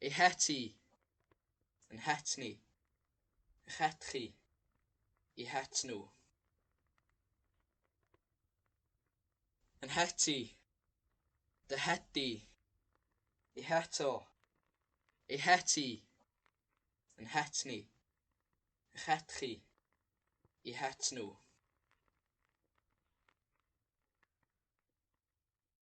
Ei het i. Yn het ni. Eich het chi. I het nhw. Yn het i. Dy het di. I het o. Ei het i. Yn het ni. Eich het chi. I het nhw.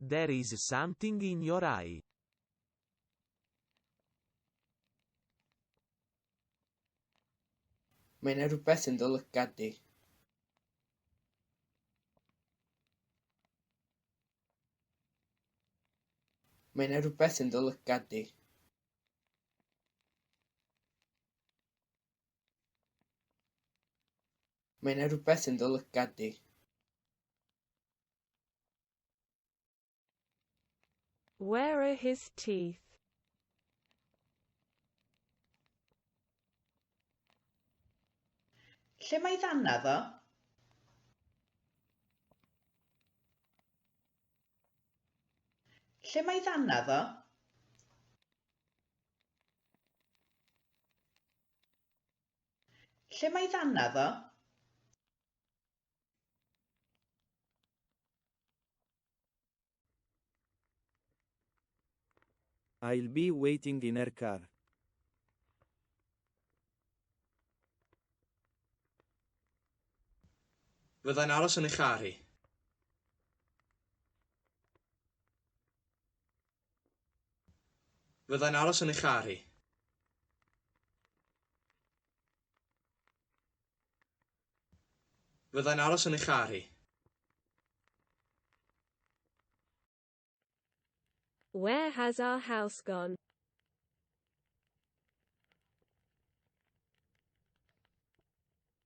There is something in your eye. Mae yna rhywbeth yn dy lygad di. Mae yna rhywbeth yn dy lygad di. Mae yna rhywbeth yn dy lygad di. Where are his teeth? Lle mae ddannedd o? Lle mae ddannedd o? Lle mae ddanna ddo? I'll be waiting in her car. Fyddai'n aros yn ei char hi. Fyddai'n aros yn ei char hi. Fyddai'n aros yn ei char hi. Where has our house gone?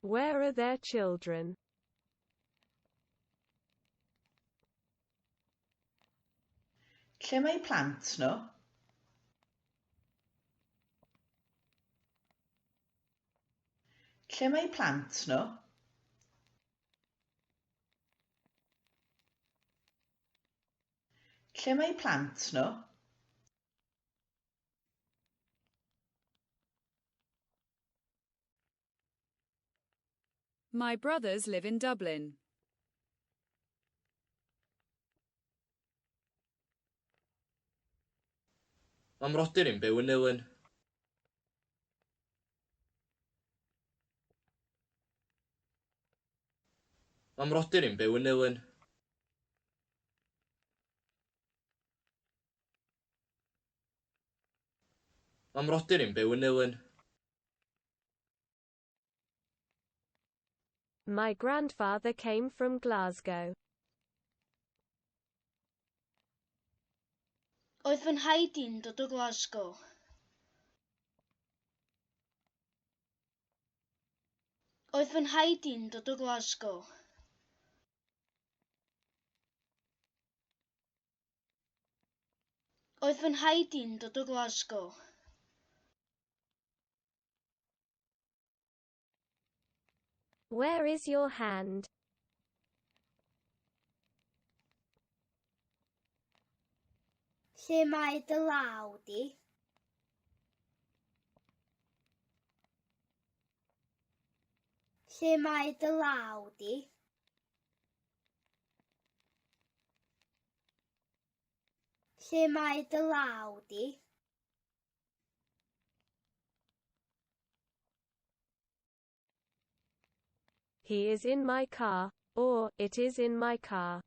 Where are their children? Lle mae plant nhw? Lle mae plant nhw? Lle mae plant nhw? My brothers live in Dublin. Mae mrodyr i'n byw yn Nulyn. Mae mrodyr i'n byw yn Nulyn. Mae mrodyr i'n byw yn Nulyn. My grandfather came from Glasgow. Oedd fy nhaid i'n dod o Glasgow. Oedd fy nhaid i'n dod o Glasgow. Oedd fy nhaid i'n dod o Glasgow. Where is your hand? Lle mae dy law di? Lle mae dy law di? Lle mae dy law di? He is in my car, or it is in my car.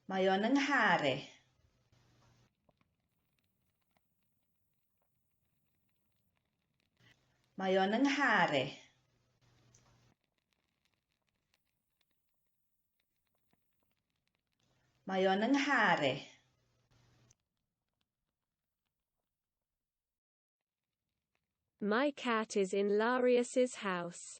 Mae o'n yng nghar i. Mae o'n yng nghar i. Mae o'n yng nghar i. My cat is in Larius's house.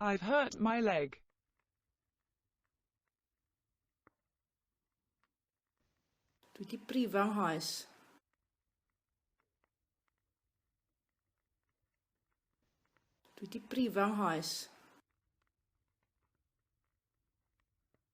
I've hurt my leg. Dwi di brifo nghoes. Dwi di brifo nghoes.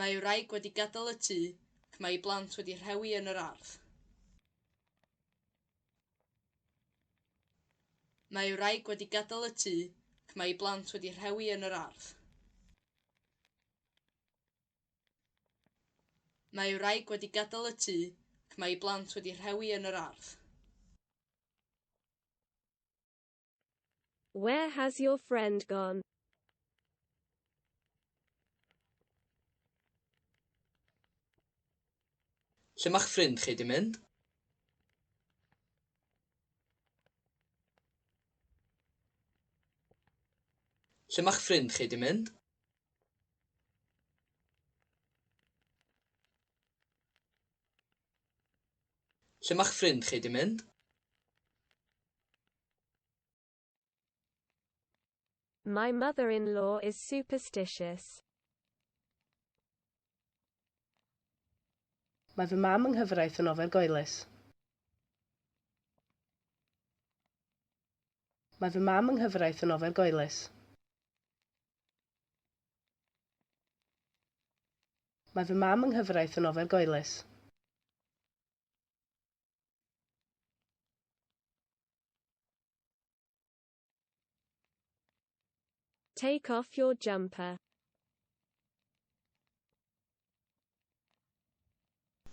Mae wraig wedi gadael y tŷ ac mae ei blant wedi rhewi yn yr ardd. Mae wraig wedi gadael y tŷ ac mae ei blant wedi rhewi yn yr ardd. Mae wraig wedi gadael y tŷ ac mae ei blant wedi rhewi yn yr ardd. Where has your friend gone? Lle mae'ch ffrind chi di mynd? Lle mae'ch ffrind chi di mynd? Lle ma'ch ffrind chi 'di mynd? My mother-in-law is superstitious. Mae fy mam yng nghyfraith yn ofergoelus. Mae fy mam yng nghyfraith yn ofergoelus. Mae fy mam yng nghyfraith yn ofergoelus. Take off your jumper.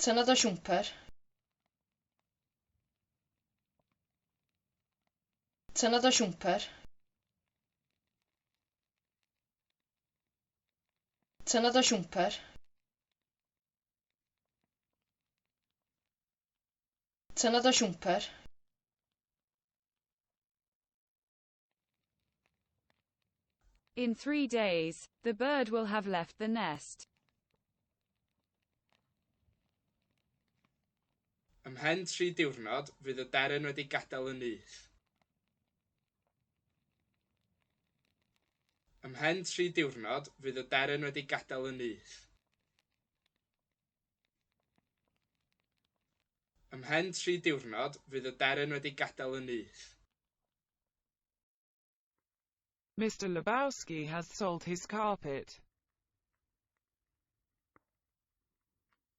Tynna dy siwmper. Tynna dy siwmper. Tynnodd o siwmper. Tynnodd o siwmper. In three days, the bird will have left the nest. Ymhen tri diwrnod, fydd y deryn wedi gadael y nyth. Ymhen tri diwrnod, fydd y deryn wedi gadael y nyth. Ymhen tri diwrnod, fydd y deryn wedi gadael y nyth. Mister Lebowski has sold his carpet.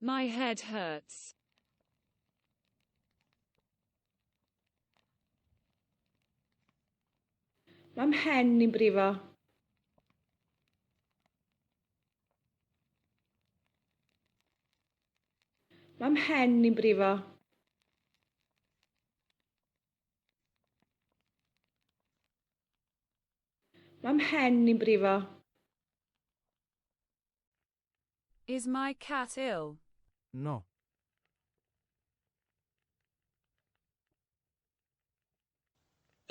My head hurts. Mae mhen ni'n brifo. Mae mhen ni'n brifo. Mae mhen i'n brifo. Is my cat ill? No.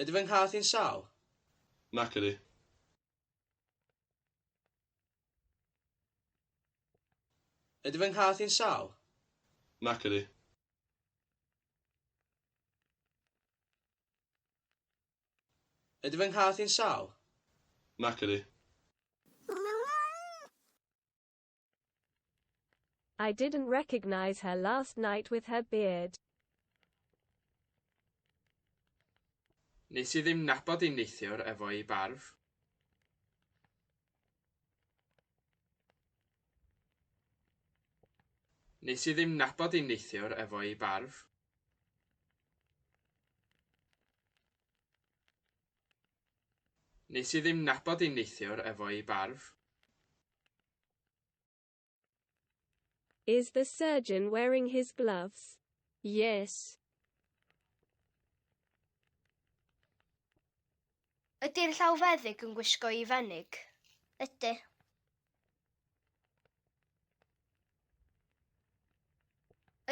Ydy fy nghath i'n sâl? Nac ydy. Ydy fy nghath i'n sâl? Nac ydy. Ydy fy nghath i'n sâl? Nac ydy. I didn't recognise her last night with her beard. Nes i ddim nabod un neithiwr efo'i barf. Nes i ddim nabod un neithiwr efo'i barf. Nes i ddim nabod un neithiwr efo i barf. Is the surgeon wearing his gloves? Yes. Ydy'r llawfeddyg yn gwisgo i fenig? Ydy.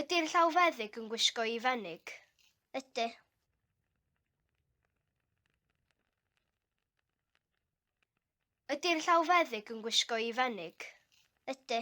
Ydy'r llawfeddyg yn gwisgo i fenig? Ydy. Ydy'r llawfeddyg yn gwisgo i fenig? Ydy.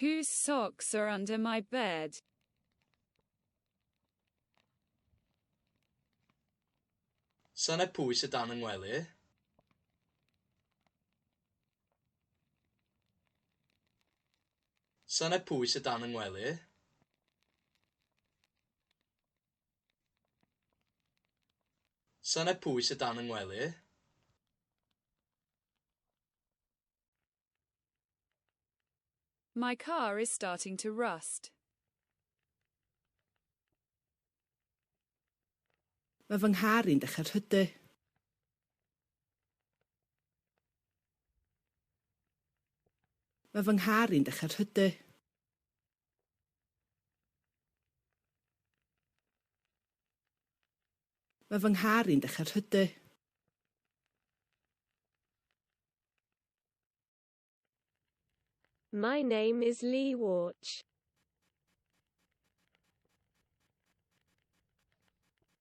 Whose socks are under my bed? Sane pwy sydd dan y ngwely? Sane pwy sydd dan y ngwely? Sane pwy sy dan y ngwely? My car is starting to rust. Mae fy nghar i'n dechrau rhydu. Mae fy nghar i'n dechrau rhydu. Mae fy nghar i'n dechrau rhydu. My name is Lee Warch.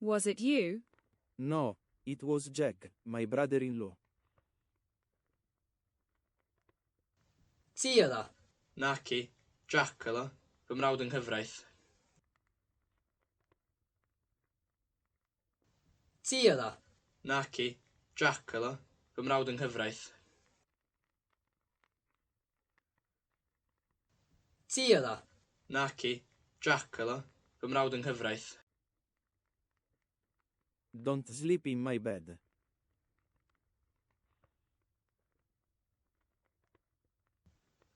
Was it you? No, it was Jack, my brother-in-law. Ti oedd o? Naci, Jack oedd o, fy mrawd yng nghyfraith. Ti oedd o? Naci, Jack oedd o, fy mrawd yng nghyfraith. Ti oedd o? Naci, Jac oedd o. Fy mrawd yng nghyfraith. Don't sleep in my bed.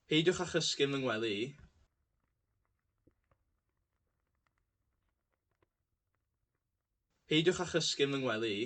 Peidiwch â chysgu yn fy ngwely i. Peidiwch â chysgu yn fy ngwely i.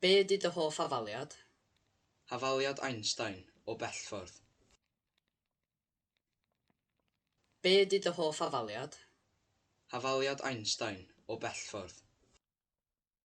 Be ydy dy hoff hafaliad? Hafaliad Einstein, o bell ffordd. Be ydy dy hoff hafaliad? Hafaliad Einstein, o bell ffordd.